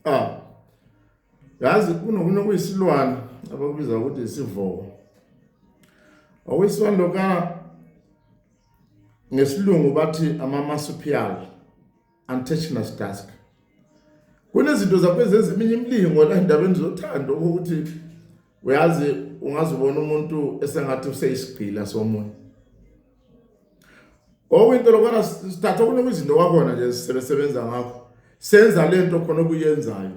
ah yazi kunokunye okuyisilwane abakubiza ukuthi isivoko okuyisilwane lokana ngesilungu bathi ama-marsupial Untouchness Task kunezinto zakwezezi eminye imilingo la endabeni zothando ukuthi uyazi ungazibona umuntu esengathi useyisigqila somoya okwinto lokwana sithatha kunokuzinto kwakhona nje sisebenza ngakho senza lento khona okuyenzayo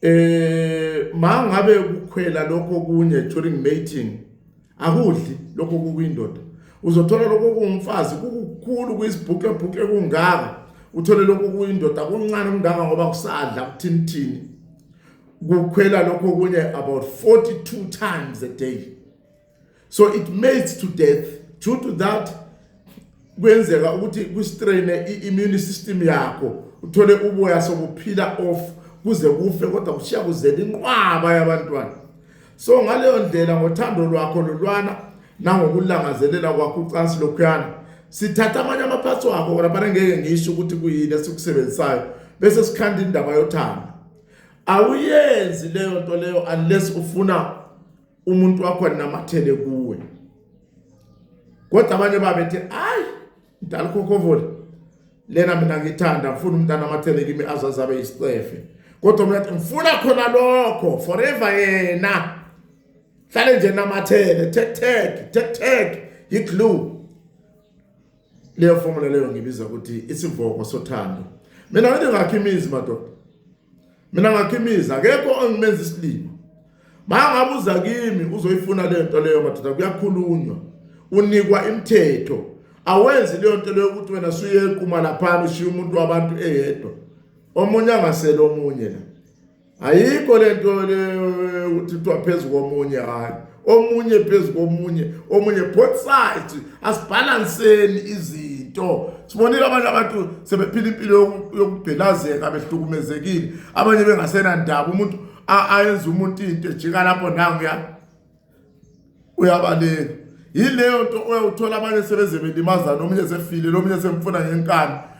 eh ma ngabe ukukhwela lokho kunye during mating akudli lokho kukwindoda uzothola lokho kungumfazi kukukhulu kuyisibhuke bhuke kungaka uthole lokho kuyindoda kuncane kungaka ngoba kusadla kuthinithini kukhwela lokho kunye about 42 times a day so it mates to death due to that kwenzeka ukuthi kustraine i-immune system yakho uthole uboya sokuphila off kuze kufe kodwa kushiya kuzela inqwaba yabantwana so ngaleyo ndlela ngothando lwakho lolwana nangokulangazelela kwakho ucansi lokhuyana sithatha amanye amaphathi wakho kona bane ngeke ngisho ukuthi kuyini esikusebenzisayo bese sikhanda indaba yothando awuyenzi leyo nto leyo unless ufuna umuntu wakho anamathele kuwe kodwa abanye babethi hayi mdala ukhokovole lena mina ngithanda ngifuna umntana amathele kimi azazi abe yisicefe kodwa mina ngifuna khona lokho forever yena hlale nje namathele tek tek tek tek yiglue leyo formula leyo ngibiza ukuthi isivoko sothando mina ngithi ngakhe imizi madoda mina ngakhe imizi akekho ongimenza isilima mangabuza kimi uzoyifuna le nto leyo madoda kuyakhulunywa unikwa imithetho awenzi leyo nto leyo ukuthi wena suyequma laphana ushiya umuntu wabantu eyedwa omunye angasele omunye la ayikho le nto leyo ukuthi kuthiwa phezu komunye hhayi omunye phezu komunye omunye both sides asibhalanseni izinto sibonile abantu abantu sebephila impilo yokubhelazeka behlukumezekile abanye bengasenandaba umuntu ayenza umuntu into ejika lapho nanguya uyabaleka yileyo nto oyawuthola abanye sebeze belimazana omunye sefile lomunye semfuna ngenkani